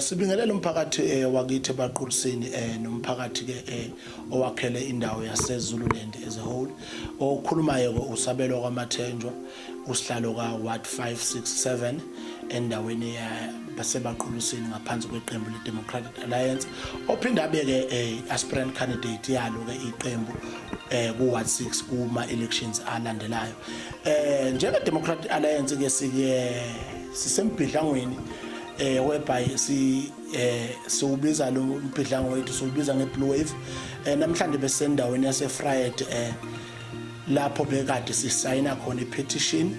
Sibingelele umphakathi eh, wakithi ebaqulisini eh, nomphakathi ke eh, owakhele indawo yaseZululand as a whole okhulumayo ke usabelo kwamathenjwa usihlalo ka Ward 567 endaweni yasebaqulisini ngaphansi kweqembu leDemocratic Alliance ophinde abe ke eh, aspirant candidate yalo ke iqembu eh ku Ward 6 kuma elections alandelayo eh njenge Democratic Alliance ke sike sisembhidlangweni eh whereby si eh siwubiza lo mbhidlango wethu siwubiza ngeblue wave eh namhlanje besendaweni yase Fried eh lapho bekade sisayina khona ipetition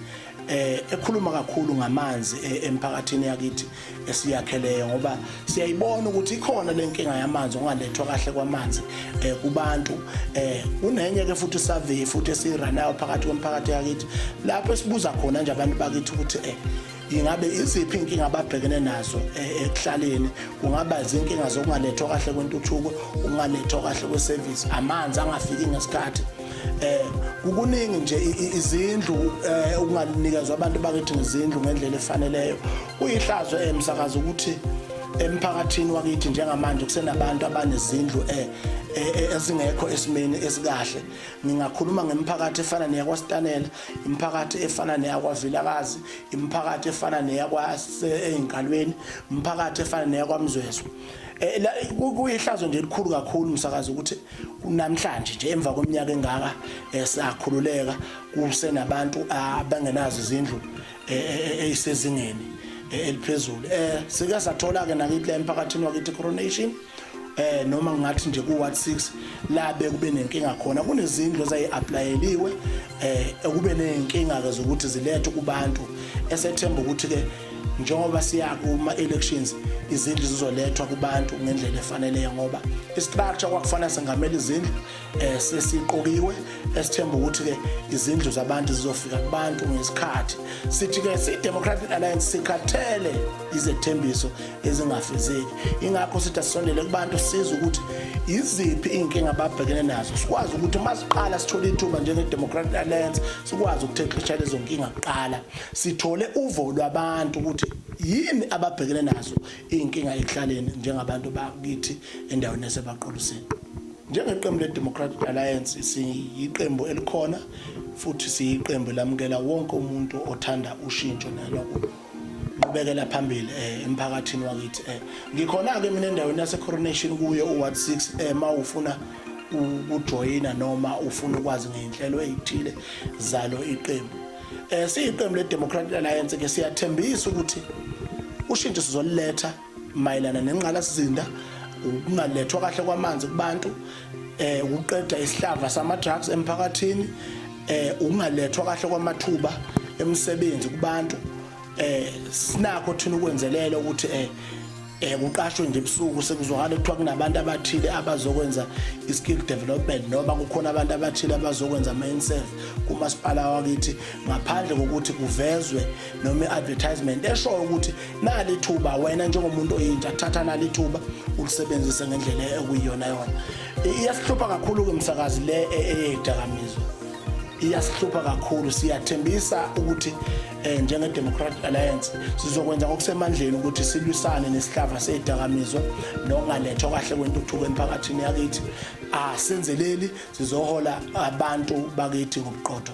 eh ekhuluma kakhulu ngamanzi eh, emphakathini yakithi esiyakheleyo ngoba siyayibona ukuthi ikhona lenkinga yamanzi ungalethwa kahle kwamanzi eh kubantu eh kunenye ke futhi survey futhi esiranayo phakathi komphakathi yakithi lapho esibuza khona nje abantu bakithi ukuthi eh ingabe iziphi inkinga ababhekene nazo eh, ekuhlaleni kungaba izinkinga zokungalethwa kahle kwentuthuko ukungalethwa kahle kwesevisi amanzi angafiki ngesikhathi eh kukuningi nje izindlu eh, ukunganikezwa abantu bakithi ngezindlu ngendlela efaneleyo kuyihlazo emsakazo eh, ukuthi emphakathini wakithi njengamanje kusenabantu abanezindlu eh, eh, eh, ezingekho esimeni esikahle ngingakhuluma ngemphakathi efana neyakwaStanela imphakathi efana neyakwaVilakazi imiphakathi efana neyakwasezinkalweni imiphakathi efana neyakwamzwezwe eh, kuyihlazo nje elikhulu kakhulu msakazi ukuthi namhlanje nje emva kweminyaka engaka eh, sakhululeka kusenabantu abangenazo izindlu eh, eyisezingeni eliphezulu eh sike sathola ke nakithi la emphakathini wakithi coronation eh noma ngathi nje ku ward 6 la bekube nenkinga khona kunezindlu ezayiapplyeliwe eh ekube nenkinga ke zokuthi zilethe kubantu esethemba ukuthi ke njengoba siya kuma elections izindlu zizolethwa kubantu ngendlela efaneleyo ngoba istructure kwakufanele sengamela izindlu eh sesiqokiwe esithemba ukuthi ke izindlu zabantu zizofika kubantu ngesikhathi sithi ke si Democratic Alliance sikhathele izethembiso ezingafezeki ingakho sithi asondele kubantu siza ukuthi iziphi inkinga ababhekene nazo sikwazi ukuthi uma siqala sithole ithuba njenge Democratic Alliance sikwazi ukuthexesha lezo nkinga kuqala sithole uvo lwabantu ukuthi yini ababhekene nazo inkinga ekuhlaleni njengabantu bakithi endaweni yasebaqolusini Njengeqembu le-Democratic Alliance siyiqembu elikhona futhi siyiqembu elamukela wonke umuntu othanda ushintsho nanokuqhubekela phambili um emphakathini wakithi um ngikhona-ke mina endaweni yase-coronation kuyo u-ward six um ma ufuna ukujoyina noma ufuna ukwazi ngey'nhlelo ey'thile zalo iqembu um siyiqembu le-democratic alliance-ke siyathembisa ukuthi ushintsho sizoliletha mayelana nengqalasizinda ukungalethwa kahle kwamanzi kubantu eh ukuqeda isihlava sama drugs emphakathini eh ukungalethwa kahle kwamathuba emsebenzi kubantu eh sinakho thina ukwenzelela ukuthi eh eh kuqashwe nje ebusuku sekuzwakala kuthiwa kunabantu abathile abazokwenza i-skill development noma kukhona abantu abathile abazokwenza ama-inserve kumasipala wakithi ngaphandle kokuthi kuvezwe noma i-advertisement eshoyo ukuthi nali ithuba wena njengomuntu oyintsha thatha nali ithuba ulisebenzise ngendlela ekuyiyona yona iyasihlupha kakhulu-ke msakazi le e, eyeyidakamizwa iyasihlupha kakhulu siyathembisa ukuthi um njenge-democratic alliance sizokwenza ngokusemandleni ukuthi silwisane nesihlava seyidakamizwa nokungalethwa kahle kwentuthuko emphakathini yakithi asenzeleli sizohola abantu bakithi ngobuqotho